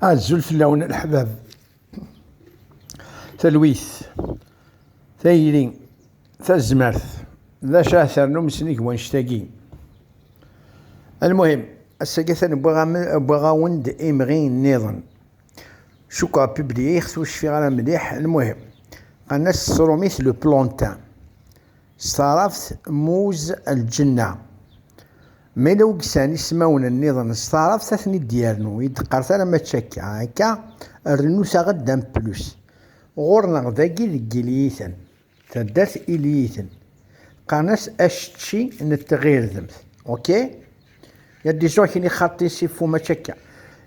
Azul fell-awen leḥbab. Talwit, tayri, tazmert, d acu ara ternum snig wannect-agi. Almuhim, ass-agi atan wwiɣ-awen-d imɣi nniḍen. Cukkeɣ publiiɣ-t ur cfiɣ ara mliḥ, almuhim, qqaren-as s tṛumit le plantain, s taɛrabt muz al-ǧenna. Ma la ugsan ismawen nniḍen s taɛrabt ad ten-id yernu, i d-teqqar tala mačči akka, akka rrnut-aɣ-d un plus. Ɣur-neɣ dagi deg Iliyiten, taddart Iliyiten, qqaren-as acečči n tɣirdemt. Ok? Ya d-izuɣ kini xaṭi siffu mačči akka.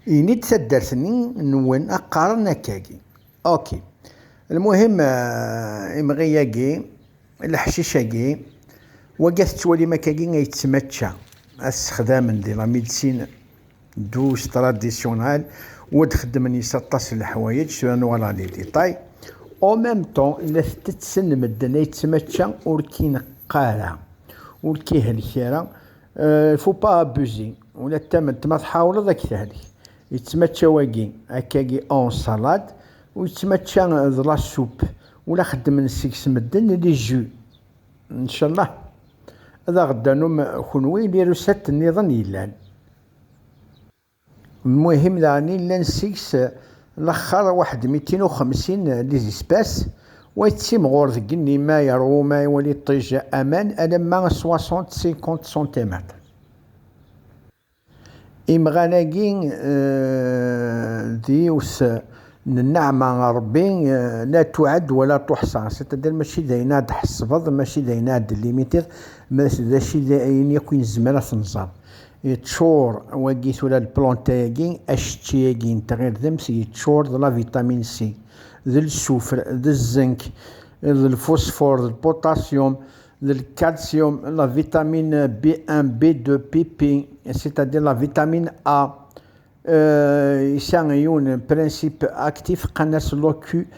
Ini-d taddart-nni nwen a qqaren akkagi. Ok. Lmuhim, imɣi-yagi. Leḥcic-agi, wagi tettwalim akkagi ay yettmačča ad t-sexdamen di la médecine douce traditionnelle u ad xeddmen yes aṭas n leḥwayeǧ, tura ad nuɣal ɣer les détails, en même temps la t-tetten medden ay yettmačča ur k-ineqq ara, ur k-ihelk ara, il faut pas abuser, ula d tament ma tḥawleḍ ad k-tehelk, yettmačča wagi akkagi en salade u yettmačča d la soupe Ula xeddmen seg-s medden i lizu. Ncallah ad aɣ-d-tanum kunwi lirusat nniḍen yellan. Lmuhim daɣen illan seg-s laxxar waḥed mitin u xemsin des espaces, wa yettimɣur deg igenni ma yeṛwu ma iwali ṭṭij aman alamma soixante, cinquante centimètres. Imɣan-agi d yiwet n nneɛma n Ṛebbi la tuɛad wa la tuḥṣa, c'est-à-dire mačči d ayen ara d-tḥesbeḍ, mačči d ayen ara d-limiteḍ, mačči d ayen akk i nezmer ad t-nẓer. Yeččur wagi tura lplanta-agi, acečči-agi n tɣirdemt yeččur d la vitamine C, d lsufr, d zzink, d lfusfur, d lputasyum, d lkalsyum, la vitamin B1, B2, PP, c'est-à-dire la vitamine A. Yesɛa yiwen n principe actif qan-as locubozid.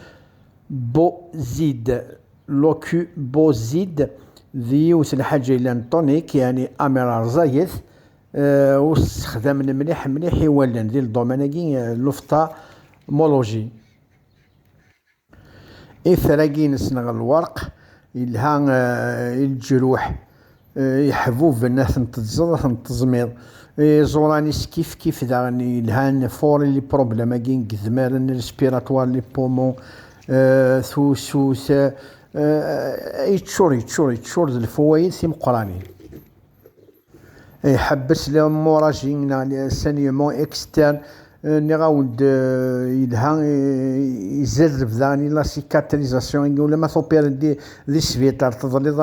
Locubozid d yiwet n lḥaǧa yellan tonique, yani amer rẓaget, ur sexdamen mliḥ mliḥ i wallen di ldoman-agi n l'ophtalmologie. Itr-agi inessen ɣer lwerq yelha i leǧruḥ yeḥbuben, ad ten-teẓẓeḍ, ad ten-teẓmiḍ. Iẓuran-is kifkif daɣen yelhan pour les problèmes-agi n yedmaren respiratoires, les poumons, tusut, yeččur, yeččur, yeččur d lfawayed timeqqranin. Iḥebbes lemuraji neɣ l'enseignement externe, nniɣ-awen-d yelha izerreb daɣen i la cicatrisation agi ulamma tupireḍ di sbiṭar teḍliḍ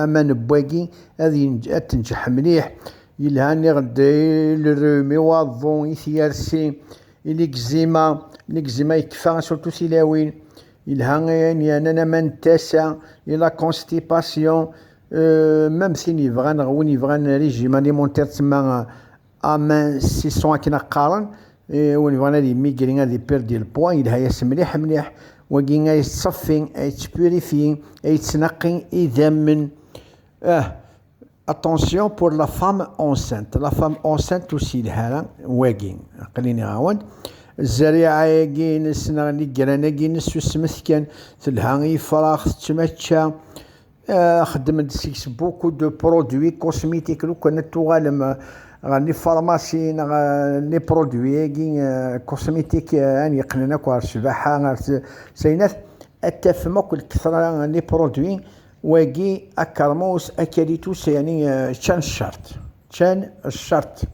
aman n wagi ad tenǧeḥ mliḥ, yelha nniɣ-d i le rhume, i waḍu, i tyersi, i l'eczima, l'eczima yekfa surtout tilawin, yelha ayen yernan aman n tasa, i la constipation, Mam tin yebɣan neɣ win yebɣan régime alimentaire tsemma amincissement akken ad qqaren, win yebɣan ad yemigri ad yperdre le poids yelha-yas mliḥ mliḥ, wagi ad yettṣeffi, ad yettpurifier, ad yettnaqi idammen. Ah, attention pour la femme enceinte, la femme enceinte ur s-yelha ara wagi, aql-i nniɣ-awen-d, zzeriɛa-agi-ines neɣ nigran-agi-ines susmet kan, telha i yefrax, tettmačča. xeddem-d seg-s beaucoup de produits cosmétiques lukan ad tuɣalem ɣer les pharmacies neɣ les produits agi cosmétiques an yeqqnen akk ɣer ccbaḥa ɣer sayinat ad tafem akk lkethra les produits wagi akermus akalitus yani ččan ccart ččan ccart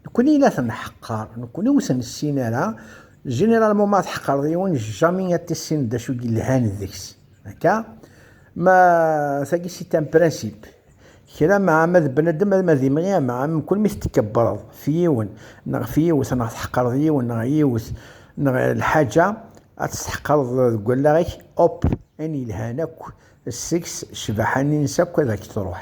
Nekkni i la ten-nḥeqqer, nekkni ur ten-nessin ara. Généralement, ma tḥeqqreḍ yiwen, jamais ad tissineḍ d acu i yelhan deg-s. Akka? Ma tagi c'est un principe. Kra ma ma d bnadem, ma d imɣi, ma mkul mi tetkebbreḍ f yiwen, neɣ f yiwet, neɣ tḥeqqreḍ yiwen, neɣ yiwet, neɣ lḥaǧa, ad tt-tḥeqqreḍ deg wallaɣ-ik, hop, ayen yelhan akk seg-s, ccbaḥa-nni-nnes akk ad ak-truḥ.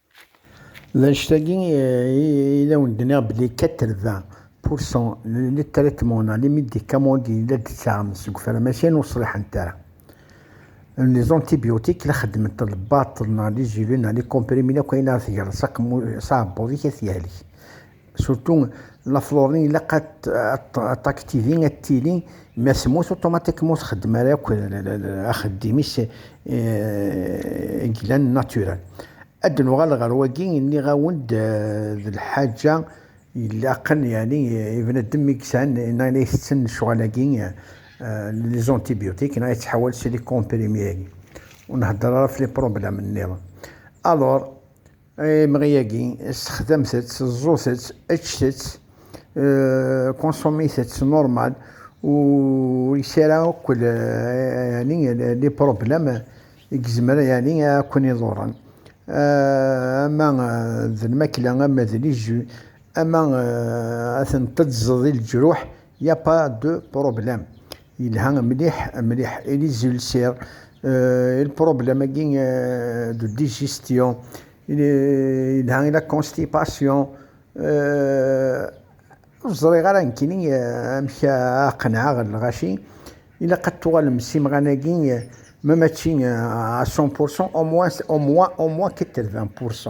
D annect-agi i d awen-d-nniɣ belli 80 pour cent n lettraitement-a, les médicaments d yella d-ttaɣen seg ufram acyan ur ṣliḥent ara. Les antibiotiques la xeddment lbaṭel neɣ les gélus neɣ les comprimés akk ayen ara tegreḍ s aɛebbuḍ-ik ad t-yehlek. Surtout la florine ilaq ad t'activi ad tili ma temmut automatiquement ur txeddem ara akk axeddim-is glan naturel. Ad d-nuɣal ɣer wagi nniɣ-awen-d d lḥaǧa ilaqen yeɛni ibnadem mi yesɛan neɣ la itetten lecɣal-agi les antibiotiques neɣ yettḥawal si les comprimés-agi. Ur nhedder ara ɣef les problèmes nniḍen. Alors Ay imɣi-agi, sexdamet-tt, ẓẓut-tt, eččet-tt, consommez-tt normal, ur yesɛi ara akk les problèmes i yezmer a ken-iḍurren, ama d lmakla, ama d les jus, ama ad ten-teddzeḍ i leǧruḥ, il n'y a pas de problème. Yelha mliḥ mliḥ et les ulcères et le problème de digestion yelha et la constipation ur ẓriɣ ara nekkini amek ara qenɛeɣ lɣaci ilaq ad tuɣalem s imɣan-agi ma mačči à 100% au moins 80%